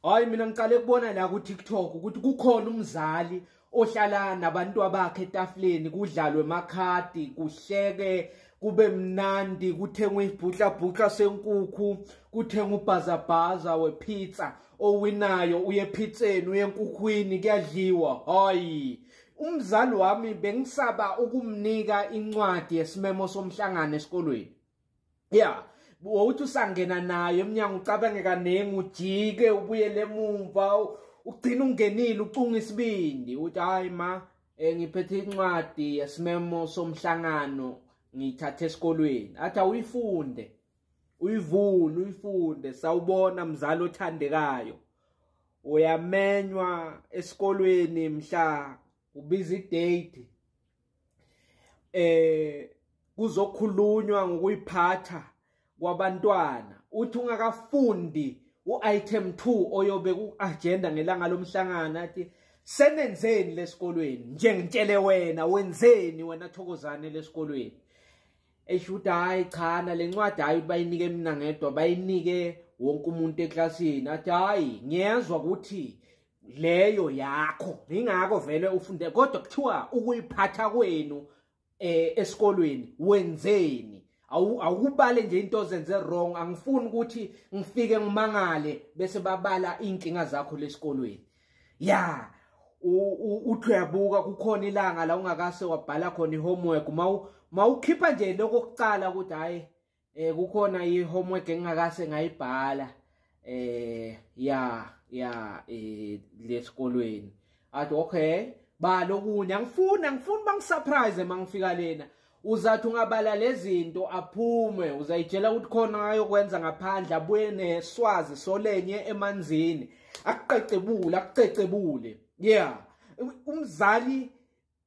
Hayi mina ngiqale kubona la ku TikTok ukuthi kukhona umzali ohlala nabantu abakhe etafuleni kudlalwe makhadi kuhleke kube mnandi kuthengwe ibhutla bhutla senkukhu kuthengwe ubhazabhaza wepizza owinayo uye phitseni uye enkukhwini kuyadliwa hayi umzali wami bengisaba ukumnika incwadi yesimemo somhlangano esikolweni yeah wawuthi usangena nayo emnyango ucabange kaningi ujike ubuyele emumva ugcina ungenile ucunga isibindi uthi hayi ma um ngiphethe incwadi yesimemo somhlangano ngiyithathe esikolweni athi awuyifunde uyivule uyifunde sawubona mzali othandekayo uyamenywa esikolweni mhla ubiza idate eh kuzokhulunywa ngokuyiphatha kwabantwana uthi ungakafundi u-item 2 oyobe ku-agenda ngelanga lomhlangano athi senenzeni lesikolweni nje ngitshele wena wenzeni wena thokozane lesikolweni esho ukuthi hhayi cha nale ncwadi hhayi ukuthi bayinike mina ngedwa bayinike wonke umuntu eklasini athi hhayi ngiyezwa ukuthi leyo yakho ingakho vele ufunde kodwa kuthiwa ukuyiphatha kwenu eh esikolweni wenzeni awukubale nje into ozenze wrong angifuni ukuthi ngifike ngimangale bese babala inkinga zakho lesikolweni ya uthi uyabuka kukhona ilanga la ungakase wabhala khona ihomework mawukhipha nje lokho kucala ukuthi hayi eh kukhona i homework engingakase ngayibhala eh ya ya eh lesikolweni athi okay ba lokunye angifuni angifuni bangisurprise mangifika lena uzathi ungabala lezinto aphume uzayitshela ukuthi khona ayokwenza ngaphandle abuye neswazi solenye emanzini akuqecebule akucecebule yeah umzali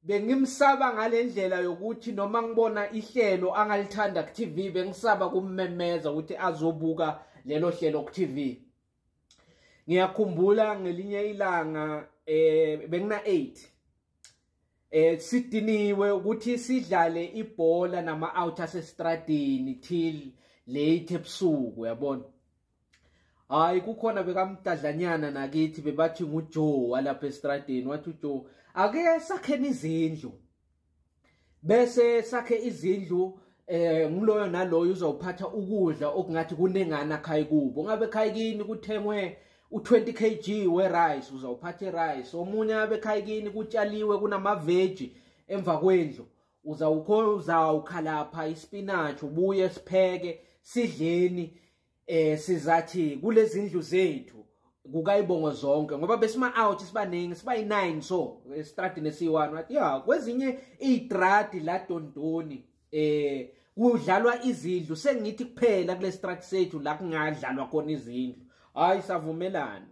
Bengimsaba ngalendlela yokuthi noma ngibona ihlelo angalithanda ku TV bengisaba kummemeza ukuthi azobuka lelo hlelo ku TV. Ngiyakhumbula ngelinye ilanga eh bengina 8 eh sidiniwe ukuthi sidlale ibhola nama out asestradini till late ebusuku yabona hayi kukhona bekamdadlanyana nakithi bebathi ngujoe walapha estradeni wathi ujoe ake sakheni izindlu bese sakhe izindlu eh ngiloyo naloyo uzowuphatha ukudla okungathi kunengana khayi kubo ngabe khayi kini kuthengwe u20 kg we rice uzawuphatha rice omunye abe khayi kini kutshaliwe kunama veggie emva kwendlu uzawukho uzawukhalapha ispinach ubuye sipheke sidleni eh sizathi kulezindlu zethu kukayibongo zonke ngoba besima out sibaningi sibayi9 so estradini esiyi1 wathi ya kwezinye itradi la Dondoni eh kudlalwa izindlu sengithi kuphela kule strat sethu la kungadlalwa khona izindlu hayi savumelana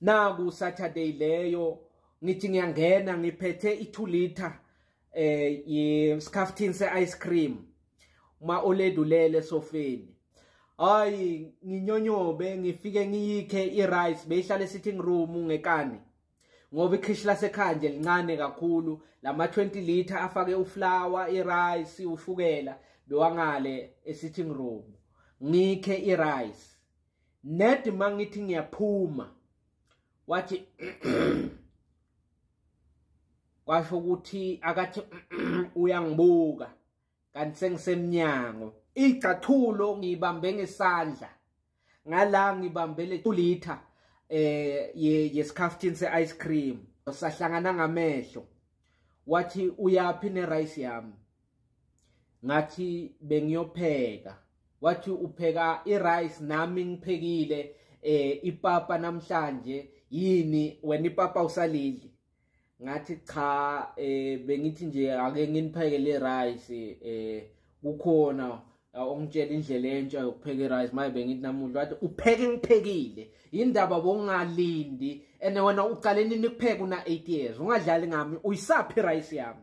naku saturday leyo ngithi ngiyangena ngiphethe i2 liter eh yesikhaftini seice cream uma oledulele sofeni hayi nginyonyobe ngifike ngiyikhe irice beyihlale sitting room ngekani ngoba ikhishi lasekhaya nje lincane kakhulu lama 20 liter afake uflower irice ushukela bewangale esitting room ngikhe irice Ned mangithi ngiyaphuma wathi kwasho ukuthi akathi uyangibuka kanti sengisemnyango igcathulo ngibambe ngesandla ngala ngibambele kulitha eh yesikhaftin se ice cream sahlangana ngamehlo wathi uyaphi ne rice yami ngathi bengiyopheka wathi upheka i-rice nami ngiphekile eh ipapa namhlanje yini wena ipapa usalidli ngathi cha eh bengithi nje ake nginipheke le rice eh kukhona ongitshela indlela entsha yokupheka i-rice maye bengithi namuhla wathi upheke ngiphekile yindaba bongalindi and wena uqale nini kupheka una-eight years ungadlali ngami uyisaphi i-rice yami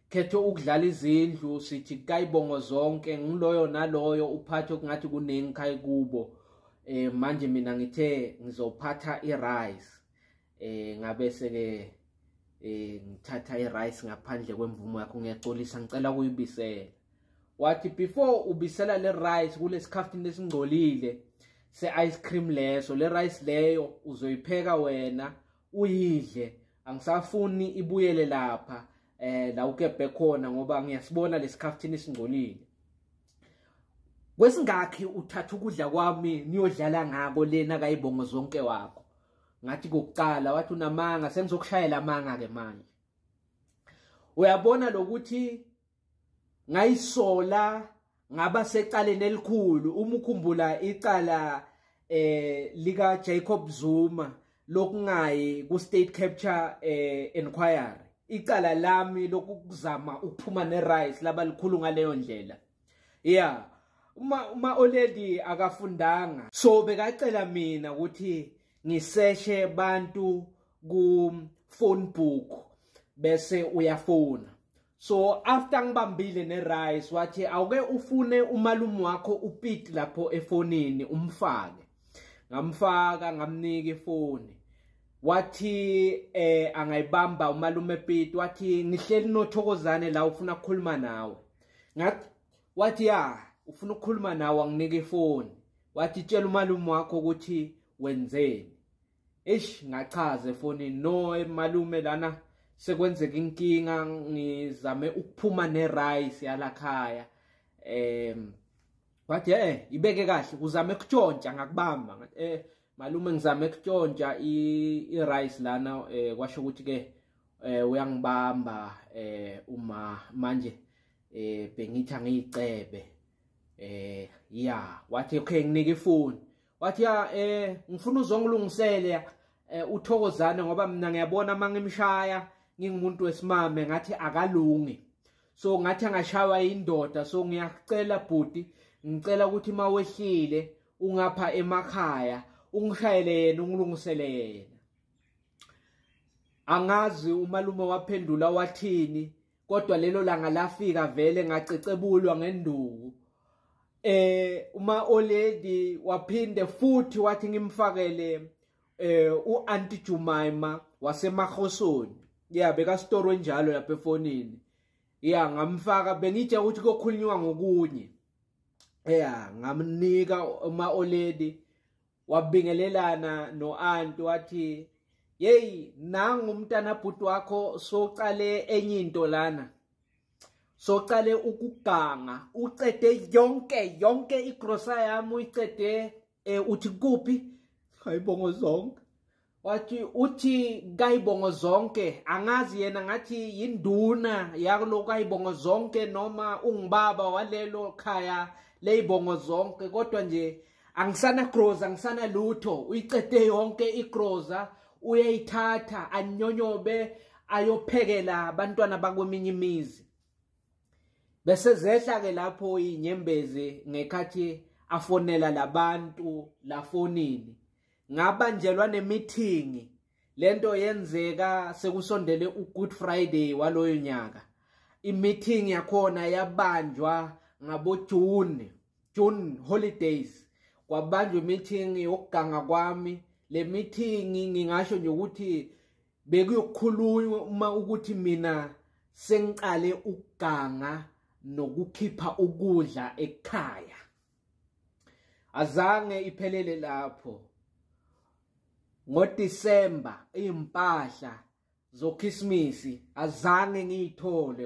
khethe ukudlala izindlu sithi kayibongo zonke ngiloyo naloyo uphathe kungathi kuningi khayi kubo eh manje mina ngithe ngizophatha irice eh ngabe seke eh ngithatha irice ngaphandle kwemvumo yakho ngiyaxolisa ngicela kuyibisela wathi before ubisela le rice kulesikhafini lesingcolile se ice cream leso le rice leyo uzoyipheka wena uyidle angisafuni ibuyele lapha eh la ukebhe khona ngoba ngiyasibona lesikhaftini esingcolile kwesingakhi uthatha ukudla kwami niyodlala ngako lena kayibongo zonke wakho ngathi kokuqala wathi unamanga sengizokushayela amanga ke manje uyabona lokuthi ngayisola ngaba secaleni elikhulu uma ukhumbula icala eh lika Jacob Zuma lokungayi ku state capture eh inquiry icala lami lokuzama ukuphuma ne rice laba likhulu ngaleyo ndlela yeah uma uma already akafundanga so bekacela mina ukuthi ngiseshe abantu ku phone book bese uyafona so after ngibambile ne-rice wathi awuke ufune umalume wakho upit lapho efonini umfake ngamfaka ngamnika ifoni wathi eh angayibamba umalume Pete wathi ngihleli nothokozane la ufuna ukukhuluma nawe ngathi wathi ya ufuna ukukhuluma nawe anginike ifoni wathi tshela umalume wakho ukuthi wenzeni eish ngachaza efonini no malume lana sekwenzeka inkinga ngizame ukuphuma nerice yalakhaya em wathi eh ibeke kahle uzame kutshontsha ngakubamba eh malume ngizame kutshontsha irice lana eh, kwasho ukuthi ke eh, uyangibamba eh, uma manje eh bengithi angiyicebe eh ya wathi okay nginike ifoni wathi ya eh ngifuna uzongilungisele eh, uthokozane ngoba mina ngiyabona uma ngimshaya ngingumuntu wesimame ngathi akalungi so ngathi angashaywa indoda so ngiyacela bhuti ngicela ukuthi uma wehlile ungapha emakhaya ungishayele yena ungilungisele yena angazi umalume waphendula wathini kodwa lelo langa lafika vele ngacecebulwa ngenduku eh uma oledi waphinde futhi wathi ngimfakele eh uanti Jumaima wasemahosoni yeah beka store njalo lapha efonini yeah ngamfaka bengitshe ukuthi kokhulunywa ngokunye yeah ngamnika uma oledi wabingelelana no-anti wathi yeyi nangu umntana bhuti wakho socale enye into lana socale ukuganga ucede yonke yonke igrosa yami uyicede um uthi kuphi hayibongo zonke wathi uthi kayibongo zonke angazi yena ngathi yinduna yakulo kayibongo zonke noma ungubaba walelo khaya leyibongo zonke kodwa nje angisana groza angisana lutho uyiqede yonke igroza uyayithatha anyonyobe ayophekela abantwana bakweminye imizi bese zehla ke lapho inyembezi ngekhathi afonela labantu lafonini ngabanjelwa nemithingi lento yenzeka sekusondele uGood Friday waloyo nyaka imeeting yakhona yabanjwa ngabo June June holidays kwabanjwa imeeting yokuganga kwami le meeting ngingasho nje ukuthi bekuyokhulunywa uma ukuthi mina sengiqale ukuganga nokukhipha ukudla ekhaya azange iphelele lapho ngoDisemba impahla zokhisimusi azange ngiyithole